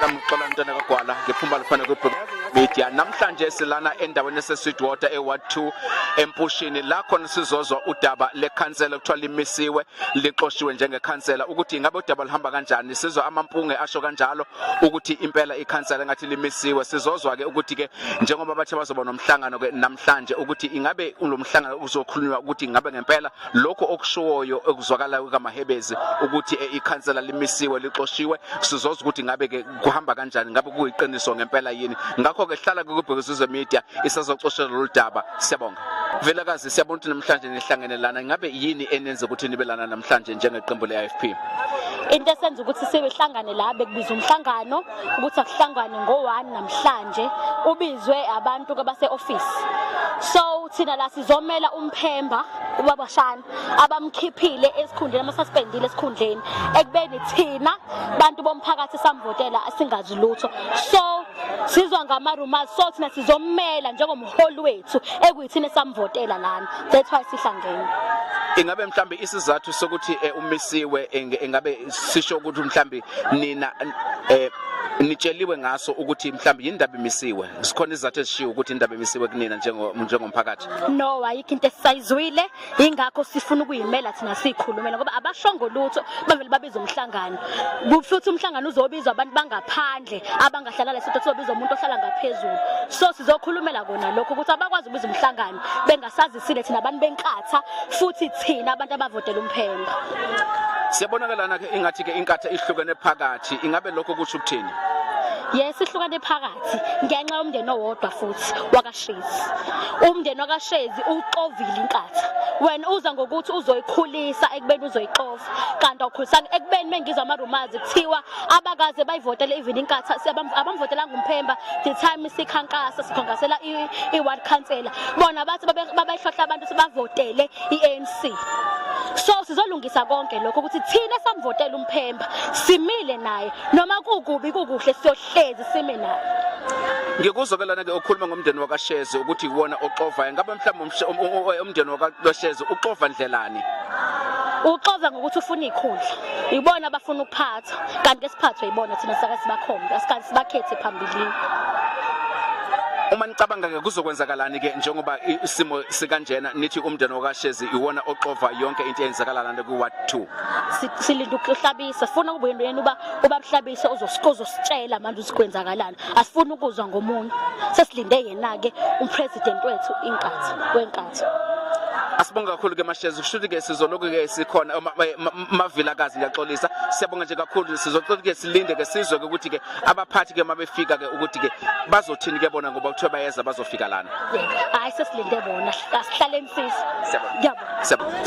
Lamxola ntwana kagwala ngephumba lifana kwi media namhlanje silana endaweni esesweetwater eward 2 empushini la khona sizozwa udaba lekhansela kuthiwa limisiwe lixoshiwe njengekhansela ukuthi ingabe udaba luhamba kanjani sizwa amampunge asho kanjalo ukuthi impela ikhansela ngathi limisiwe sizozwa ke ukuthi ke njengoba bathe bazoba nomhlangano ke namhlanje ukuthi ingabe lo mhlangano uzokhulunywa ukuthi ingabe ngempela lokho okushoyo ekuzwakala kukaMahebezi ukuthi eh, ikhansela limisiwe lixoshiwe sizoza ukuthi ngabe ke kuhamba kanjani ngabe kuyiqiniso ngempela yini ngakho ke hlala kubhekuzizwe media isazoxoshela lolu daba siyabonga Velakazi siyabona ukuthi namhlanje nihlangene lana ngabe yini enenza ukuthi nibe lana namhlanje njengeqembu le-IFP into esenza ukuthi sibehlangane la bekubiza umhlangano ukuthi akuhlangwane ngo-1 namhlanje ubizwe abantu abase-office so thina la sizomela umphemba ubaba shana abamkhiphile esikhundleni amasasipendile esikhundleni ekubeni thina bantu bomphakathi samvotela asingazi lutho so sizwa ngama rumors so thina sizomela njengomholi wethu ekuyithina samvotela lana that's why sihlangene ingabe mhlambe isizathu sokuthi eh, umisiwe ingabe sisho ukuthi mhlambe nina eh, nitsheliwe ngaso ukuthi mhlambe yindaba imisiwe sikhona izizathu ezishiwo ukuthi indaba emisiwe kunina njengomphakathi no ayikho into esisayizwile ingakho sifuna ukuyimela thina siyikhulumela ngoba abashongo lutho bavele babiza umhlangano futhi umhlangano uzobizwa abantu bangaphandle abangahlala lesitho kuzobizwa umuntu ohlala ngaphezulu so sizokhulumela kona lokho ukuthi abakwazi ukubiza umhlangano bengasazi Sile thina abantu benkatha futhi thina abantu abavotela umphemba. Siyabonakalana ke ingathi ke inkatha ihlukene phakathi ingabe lokho kusho ukuthini? yes ihlukane phakathi ngenxa yomndeni owodwa futhi wakashezi umndeni wakashezi uxovile inkatha wena uza ngokuthi uzoyikhulisa ekubeni uzoyixova kanti awukhulisanga ekubeni mengizwa amarumazi kuthiwa abakaze bayivotele even inkatha abamvotelanga umphemba the time sikhankasa sikhankasela i-ward councillor bona bathi babehlohla abantu sebavotele i-anc so sizolungisa konke lokho ukuthi thina samvotela umphemba simile naye noma kukubi kukuhle siyohlezi sime naye ngikuzokelana ke okhuluma ngomndeni wakasheze ukuthi iwona oxovayo ngabe mhlawumbe um, um, um, umndeni wakasheze uxova ndlelani uxova ngokuthi ufuna ikhundla ibona abafuna ukuphatha kanti esiphathwe ibona thina saka sibakhombe asikazi sibakhethe phambilini uma nicabanga ke kuzokwenzakalani ke njengoba isimo sikanjena nithi umndeni wakashezi iwona oxova yonke into eyenzakala lana ku ward 2 silinda ukuhlabisa sifuna ukubuyena uba ubamhlabise uzosikoza usitshela manje usikwenzakalani asifuni ukuzwa ngomunye sesilinde yena-ke umpresident wethu inkathi wenkathi asibonge kakhulu ke mashezi kusho ukuthi ke sizoloku ke sikhona mavilakazi ngiyaxolisa siyabonga nje kakhulu sizoxoxa ke silinde ke sizwe ke ukuthi ke abaphathi ke mabefika ke ukuthi ke bazothini ke bona ngoba kuthiwa bayeza bazofika lana hayi sesilinde bona asihlale mfisi siyabonga